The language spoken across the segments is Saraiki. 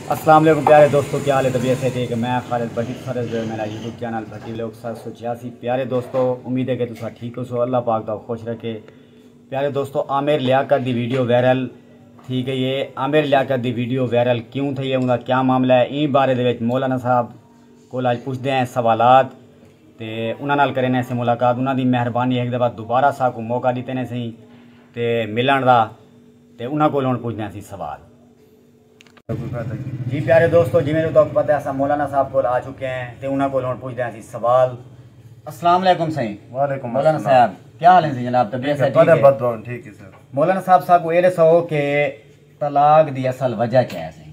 السلام علیکم پیارے دوستو کیا حال ہے طبیعت ہے ٹھیک ہے میں خالد بھٹی سارے جو میرا یوٹیوب چینل بھٹی لوگ سات سو چھیاسی پیارے دوستو امید ہے کہ تسا ٹھیک ہو سو اللہ پاک دا خوش رکھے پیارے دوستو عامر لیاقت دی ویڈیو وائرل تھی گئی ہے عامر لیاقت دی ویڈیو وائرل کیوں تھی ہے انہاں کیا معاملہ ہے این بارے دے وچ مولانا صاحب کول اج پوچھ دے ہیں سوالات تے انہاں نال کرے نے سے ملاقات انہاں دی مہربانی ایک دفعہ دوبارہ سا کو موقع دیتے نے سہی تے ملن دا تے انہاں کولوں ہݨ پچھدے ہاں اسی سوال۔ جی پیارے دوستو جیویں جو تہاکوں پتہ ہے اساں مولانا صاحب کول آ چکے ہیں تے انہاں کولوں ہݨ پچھدے ہاں اسی سوال۔ السلام علیکم سئیں۔ وعلیکم السلام۔ مولانا صاحب کیا حال ہیں سئیں جناب طبیعت صحت ٹھیک ہے؟ بددعائیں ٹھیک ہے سر۔ مولانا صاحب ساکوں ایہ ݙسو کہ طلاق دی اصل وجہ کیا ہے سئیں؟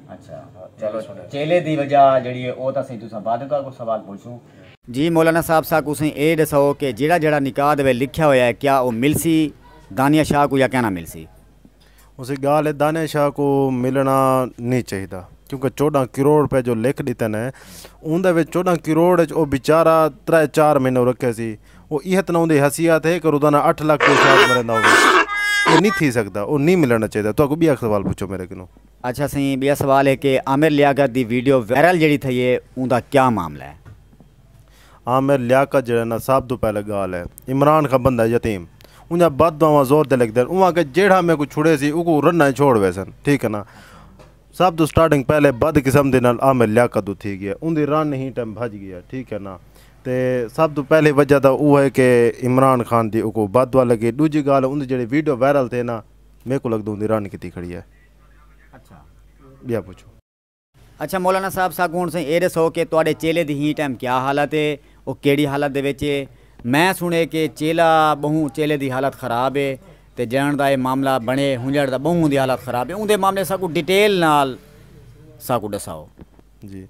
اچھا چلو چیلے دی وجہ جیڑھی ہے او تاں سئیں تساں بعد وچ کجھ سوال پچھوں۔ جی مولانا صاحب ساکوں سئیں اے ڈساؤ کہ جیڑھا جیڑھا نکاح دے ویلے لکھیا ہویا ہے کیا او ملسی دانیہ شاہ کوں یا کینا ملسی؟ اسی گالھ ہے دانیہ شاہ کوں ملنا نی چاہیدا کیونکہ چوڈاں کروڑ روپے جو لکھ ڈتے نے اوندے وچ چوڈاں کروڑ وچ او بیچارہ ترے چار مہینے رکھے سی او ایہہ تاں نہ اوندی حیثیت ہے کہ روزانہ اٹھ لکھ دے حساب نال رہندا ہووے اے نی تھی سکدا او نی ملنا چاہیدا تہاکوں بیاک سوال پچھو میڈے کنوں۔ اچھا سئیں بیا سوال ہے کہ عامر لیاقت دی ویڈیو وائرل جیڑھی تھئی ہے اوندا کیا معاملہ ہے؟ عامر لیاقت جیڑھا نا سب توں پہلے گالھ ہے عمران خاں بندہ یتیم اونجھاں بد دعاواں زور تے لکھدن اوں آکھے جیڑھا میکوں چھڑے سی اوکوں رناں اچ چھوڑ ویسن ٹھیک ہے نا سب توں سٹارٹنگ پہلے بد قسمتی نال عامر لیاقت توں تھی گیا اوندی رن ہی ٹیم بھج گیا ٹھیک ہے نا تے سب توں پہلی وجہ تاں او ہے کہ عمران خان دی اوکوں بد دعا لگی ڈوجھی گالھ اوندی جیڑھی ویڈیو وائرل تھئے نا میکوں لگدے اوندی رن کیتی کھڑی ہے۔ ٻیا پچھو۔ اچھا مولانا صاحب ساکوں ہݨ سئیں اے ݙسو کہ تہاݙے چیلے دی ہئیں ٹائم کیا حالت اے؟ او کیڑھی حالت دے وچ اے؟ میں سݨے کہ چیلا ٻہوں چیلے دی حالت خراب اے تے جݙݨ دا اے معاملہ بݨے ہنڄݨ دا ٻہوں اوندی حالت خراب اے۔ اوندے معاملے ساکوں ڈیٹیل نال ساکوں ݙساؤ۔ جی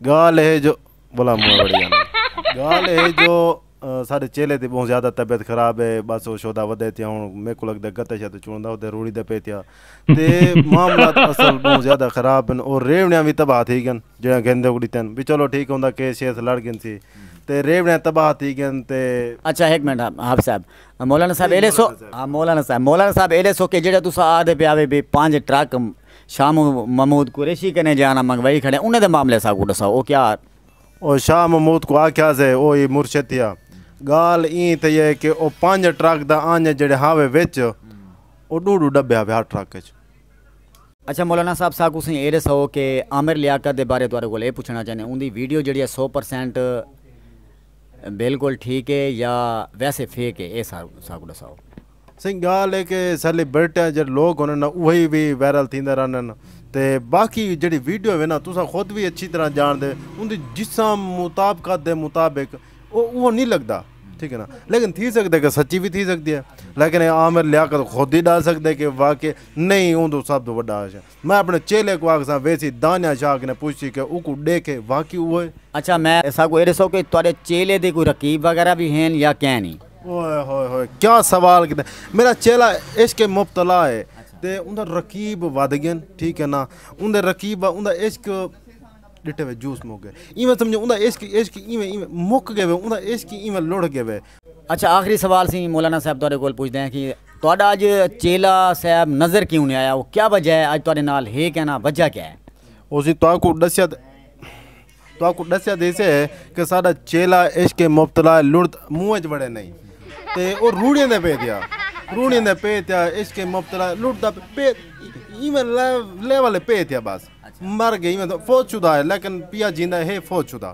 گال ہے جو بلا مو بڑی جانا گال ہے جو سارے چیلے تے بہت زیادہ طبیعت خراب ہے بس وہ شودا ودے تیا ہوں میرے کو لگدا گتا شاید چوندا ہوتے روڑی دے پے تیا تے معاملات اصل بہت زیادہ خراب ہیں اور ریوڑیاں بھی تباہ تھی گن جڑا گندے کو دیتے ہیں بھی چلو ٹھیک ہوندا کیس شیس لڑ گن سی تے ریوڑیاں تباہ تھی گن تے اچھا ایک منٹ ہاں صاحب مولانا صاحب ایلے سو مولانا صاحب مولانا صاحب ایلے سو کہ جڑا تسا آ دے پیا وے بھی پانچ ٹرک شاہ محمود قریشی کنیں جانا منگوائی کھڑے انہیں دے معاملے ساکوں ڈساؤ او کیا۔ او شاہ محمود کوں آکھیا سے او ای مرشد تھیا۔ گال ایں تھئی اے کہ او پنج ٹرک دا آنجے جیڑھے ہاوے وچ او ڈو ڈو ڈبے ہاوے ہر ٹرک اچ۔ اچھا مولانا صاحب ساکوں سئیں اے ڈساؤ کہ عامر لیاقت دے بارے تہاڈے کول اے پچھنا چاہنے اوندی ویڈیو جیڑھی اے سو پر سینٹ بالکل ٹھیک اے یا ویسے فیک اے اے ساکوں ڈساؤ۔ سئیں گالھ اے کہ سیلیبرٹیاں جیڑھے لوک ہوندن نا اوہی وی وائرل تھیندے رہندن تے باقی جیڑھی ویڈیو ہوے نا تساں خود وی اچھی طرح جانڑدے اوندی جسم مطابقت دے مطابق او اوہو نی لگدا ٹھیک ہے نا لیکن تھی سکدے کہ سچی وی تھی سکدی ہے لیکن اے عامر لیاقت خود ہی ڈس سکدے کہ واقعی نئیں اوندو سب توں وڈا عاشق میں اپݨے چیلے کوں آکھساں ویسی دانیہ شاہ کنیں پچھسی کہ اوکوں ݙیکھے واقعی اوہے۔ اچھا میں اساکوں اے ݙسو کہ تہاݙے چیلے دے کوئی رقیب وغیرہ وی ہین یا کین ای؟ اوہے ہوئے ہوئے کیا سوال کیتے میݙا چیلا عشق اچ مبتلا اے تے اوندے رقیب ودھ ڳئن ٹھیک اے نا اوندے رقیب اوندے عشق ݙٹے وے جوس مک ڳئے ایویں سمجھو اوندے عشق عشق ایویں ایویں مک ڳئے وے اوندے عشق ایویں لڑھ ڳئے وے اچھا آخری سوال سی مولانا صاحب تہاڈے کول پوچھدے ہیں کہ تہاڈا اج چیلا صاحب نظر کیوں نہیں آیا او کیا وجہ ہے اج تہاڈے نال ہے کیا نہ وجہ کیا ہے۔ او سی تہاکوں ڈسیا تہاکوں ڈسیا دے سے کہ ساڈا چیلا عشق اچ مبتلا ہے لڑد منہ اچ وڑے نہیں تے او روڑیاں دے پے تھیا روڑیاں دے پے تھیا عشق اچ مبتلا ہے لڑد پے ایون لیول پے تھیا بس مر گئے فوت شدہ ہے لیکن پیا جیندا ہے فوت شدہ۔